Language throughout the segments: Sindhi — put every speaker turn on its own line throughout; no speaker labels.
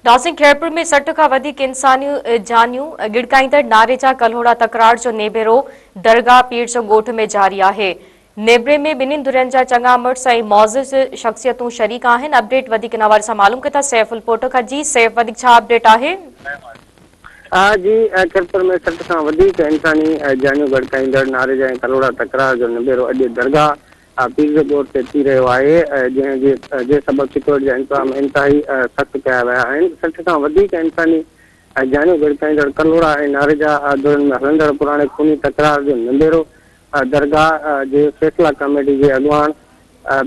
ناسنگ خيرپور ۾ سٺ کان وڌيڪ انساني جانيون ڳڙڪائيندڙ نعري جا ڪلهوڙا تڪرار جو نيبيرو درگاهه پير جو ڳوٺ ۾ جاري آهي نيبري ۾ ٻنهين ڌرين جا چڱا مڙس ۽ معزز شخصيتون شريڪ آهن اپڊيٽ وڌيڪ ان حوالي سان معلوم ڪيو ٿا سيف الپوٽو کان جي سيف وڌيڪ ڇا اپڊيٽ آهي ها
جي خيرپور ۾ سٺ کان وڌيڪ انساني جانيون ڳڙڪائيندڙ نعري جا ڪلهوڙا تڪرار جو نبيرو اڄ درگاهه پير جو ڳوٺ تي ٿي رهيو آهي، جنهن جي سبب چتوڙ جا انتظام انتهائي سخت ڪيا ويا آهن، سٺ کان وڌيڪ انساني جانيون ڳڙڪائيندڙ ڪلهوڙا ۽ نارجا ڌرين ۾ هلندڙ پراڻي خوني تڪرار جو نبيرو درگاهه جي فيصلا ڪاميٽي جي اڳواڻ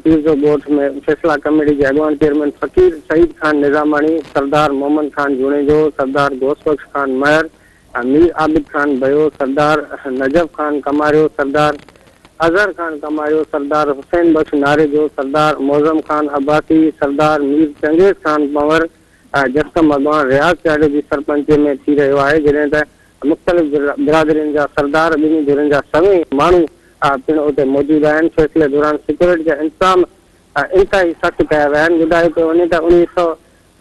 پير جو ڳوٺ ۾ فيصلا ڪاميٽي جي اڳواڻ چيئرمين فقير سعيد خان نظاماڻي، سردار محمد خان جوڻيجو، سردار غوث بخش خان مهر، مير عابد خان ڀيو، سردار نجف خان ڪماريو، سردار اظهر خان ڪماريو، سردار حسين بخش ناريجو، سردار معظم خان عباسي، سردار مير چنگيز خان پنور ۽ جسقم اڳواڻ رياض چاڙهي جي سرپنچيء ۾ ٿي رهيو آهي، جڏهن ته مختلف برادرين جا سردار، ٻنهي ڌرين جا سوين ماڻهو پڻ اتي موجود آهن. فيصلي دوران سيڪيورٽي جا انتظام انتهائي سخت ڪيا ويا آهن. ٻڌايو پيو وڃي ته اڻويهه سؤ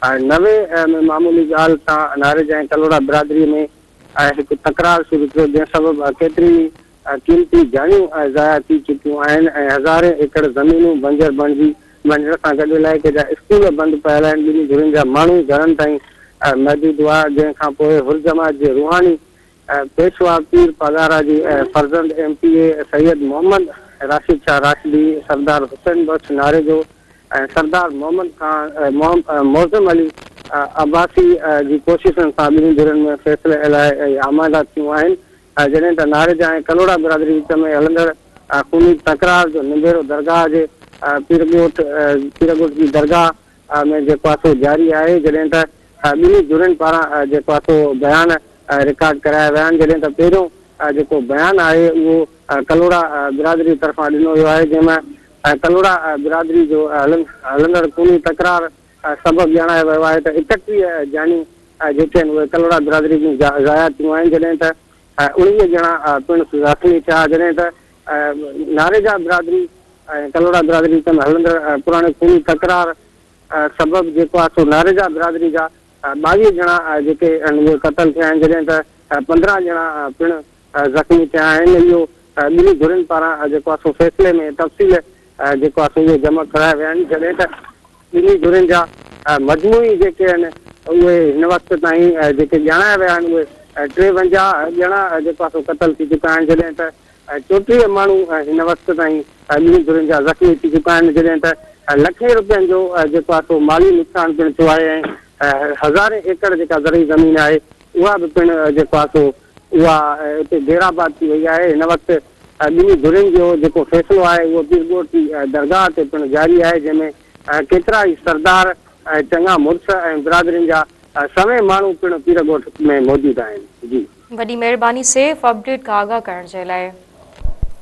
۽ نوي ۾ معمولي ڳالهه تان ناريج ۽ ڪلهوڙا برادري ۾ هڪ تڪرار شروع ٿيو جنهن سبب ڪيتريون ئي قيمتي جايون ضايع ٿي چڪيون آهن ۽ هزارين ايڪڙ زمينون بنجر بڻجي وڃڻ سان گڏ علائقي جا اسڪول بند پيل آهن ٻنهي ڌرين جا ماڻهو گهرن تائين محدود هئا جنهن کانپوء حرجماعت جي روحاني پيشوا پير پاڳارا جي فرزند M P A Syed Muhammad Rashid Shah Rashdi, Sardar Hussain Bakhsh Narejo ۽ Sardar Muhammad Khan Moazzam Ali Abbasi جي ڪوششن سان ٻنهي ڌرين ۾ فيصلي الائي آماده ٿيون آهن، جڏهن ته ناريجا ۽ ڪلهوڙا برادري وچ ۾ هلندڙ خوني تڪرار جو نبيرو درگاهه جي پيرڳوٺ جي درگاهه ۾ جيڪو آهي سو جاري آهي جڏهن ته ٻنهي ڌرين پاران جيڪو آهي سو بيان رڪارڊ ڪرايا ويا آهن جڏهن ته پهريون جيڪو بيان آهي اهو ڪلهوڙا برادري طرفان ڏنو ويو آهي جنهن ۾ ڪلهوڙا برادري جو هلندڙ خوني تڪرار سبب ڄاڻايو ويو آهي ته اڪٽيهه جانيون جيڪي آهن اهي ڪلهوڙا برادري جون ضايع ٿيون آهن جڏهن ته اوڻيهه ڄڻا پڻس زخمي ٿيا جڏهن ته ناريجا برادري ۽ ڪلهوڙا برادري وچ ۾ هلندڙ پراڻي خوني تڪرار سبب جيڪو آهي سو ناريجا برادري جا ٻاويهه ڄڻا جيڪي اهي قتل ٿيا آهن جڏهن ته پندرهن ڄڻا پڻ زخمي ٿيا آهن اهو ٻنهي ڌرين پاران جيڪو آهي سو فيصلي ۾ تفصيل جيڪو آهي سو اهي جمع ڪرايا ويا آهن جڏهن ته ٻنهي ڌرين جا مجموعي جيڪي آهن اهي هن وقت تائين جيڪي ڄاڻايا ويا آهن اهي ٽيونجاهه ڄڻا جيڪو آهي سو قتل ٿي چڪا آهن جڏهن ته ۽ چوٽيهه ماڻهو هن وقت تائين ٻنهي ڌرين جا زخمي ٿي چڪا آهن، جڏهن ته لکين رپين جو جيڪو آهي سو مالي نقصان پڻ ٿيو آهي ۽ هزارين ايڪڙ جيڪا زرعي زمين آهي اها به پڻ جيڪو آهي سو اها اتي گيڙاباد ٿي وئي آهي، هن وقت ٻنهي ڌرين جو جيڪو فيصلو آهي اهو پيرڳوٺ جي درگاهه تي پڻ جاري آهي، جنهن ۾ ڪيترا ئي سردار ۽ چڱا مڙس ۽ برادرين جا سوين ماڻهو پڻ پير
ڳوٺ
۾
موجود
آهن جي. وڏي
مهرباني سيف
اپڊيٽ
کان
آگاهه
ڪرڻ
جي لاء.